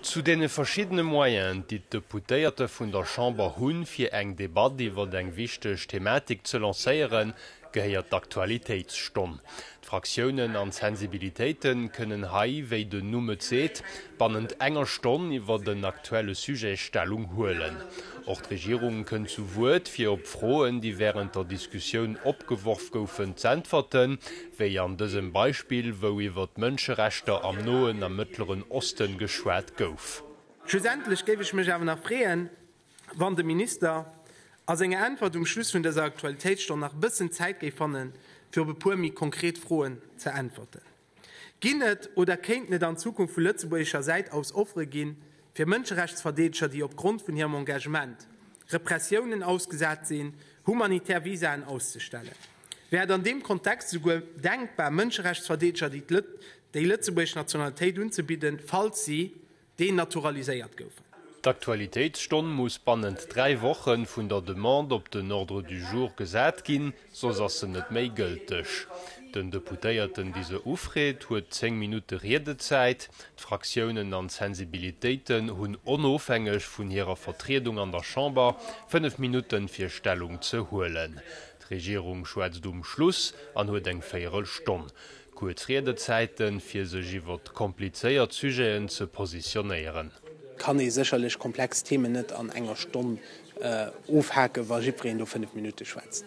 Zu deene verschiddene Moyenen, déi d'Deputéierte vun der Chamber hunn, fir eng Debatt iwwer eng wichteg Thematik ze lancéieren, gehéiert d'Aktualitéitsstonn. D'Fraktiounen an d'Sensibilitéite kënnen hei, wéi den Numm et seet, bannent enger Stonn iwwer en aktuelle Sujet Stellung huelen. Och d'Regierung kënnt zu Wuert, fir op Froen, déi wärend der Diskussioun opgeworf goufen, z'äntwerten. wéi an dësem Beispill, wou iwwer d'Mënscherechter am Noen a Mëttleren Osten geschwat gouf. Schlussendlech géif ech mech awer nach freeën, wann de Minister a senger Äntwert um Schluss vun dëser Aktualitéitsstonn nach e bëssen Zäit géif fanne fir op e puer méi konkret Froen ze äntwerten. Ginn et oder kéinten et an Zukunft vu lëtzebuergescher Säit aus Offere ginn, fir Mënscherechtsverdeedeger, déi opgrond vun hirem Engagement Repressiounen ausgesat sinn, humanitär Visaen auszestellen? Wär et an deem Kontext esouguer denkbar, Mënscherechtsverdeedeger déi lëtzebuergesch Nationalitéit unzebidden, falls si denaturaliséiert goufen? D'Aktualitéitsstonn muss bannent dräi Woche vun der Demande op den Ordre du jour gesat ginn, soss ass se net méi gëlteg. Den Deputéierten, dee se ufreet, huet zéng Minutte Riedezäit. D'Fraktiounen an d'Sensibilitéiten hunn, onofhängeg vun hirer Vertriedung an der Chamber, fënnef Minutten, fir Stellung ze huelen. D'Regierung schwätzt um Schluss an huet eng véierel Stonn kuerz Riedezäiten, fir sech iwwer komplizéiert Sujeten ze positionéieren. Kann ee sécherlech komplex Themen net an enger Stonn ofhaken, wa jiddwereen do fënnef Minutte schwätzt.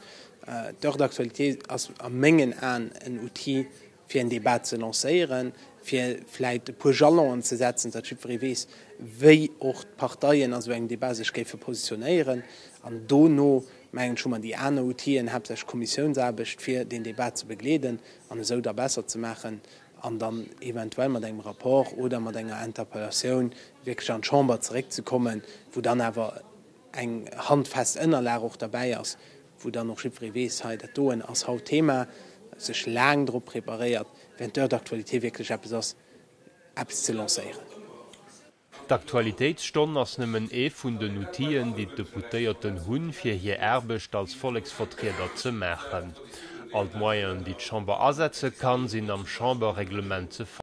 D'Heure d'actualité ass a mengen Aen en Outil, fir en Debat ze lancéieren, fir vläicht e puer Jalonen ze setzen, datt jiddweree weess, wéi och d'Parteien a sou engem Debat sech géife positionéieren. An dono, mengen ech, hu mer déi aner Outien, haaptsächlech d'Kommissiounsaarbecht, fir deen Debat ze begleeden an esou da besser ze maachen an dann eventuell mat engem Rapport oder mat enger Interpellatioun wierklech an d'Chamber zeréckzekommen, wou dann awer eng handfest Ënnerlag och derbäi ass, wou dann och jiddweree weess, hei dat doen ass haut Thema, sech laang drop preparéiert, während d'Heure d'actualité wierklech eppes ass, eppes ze lancéieren. D'Aktualitéitsstonn ass nëmmen ee vun den Outien, déi d'Deputéierten hunn, fir hir Aarbecht als Volleksvertrieder ze maachen. All d'Moyenen, déi d'Chamber asetze kann, sinn am Chamberreglement ze fannen.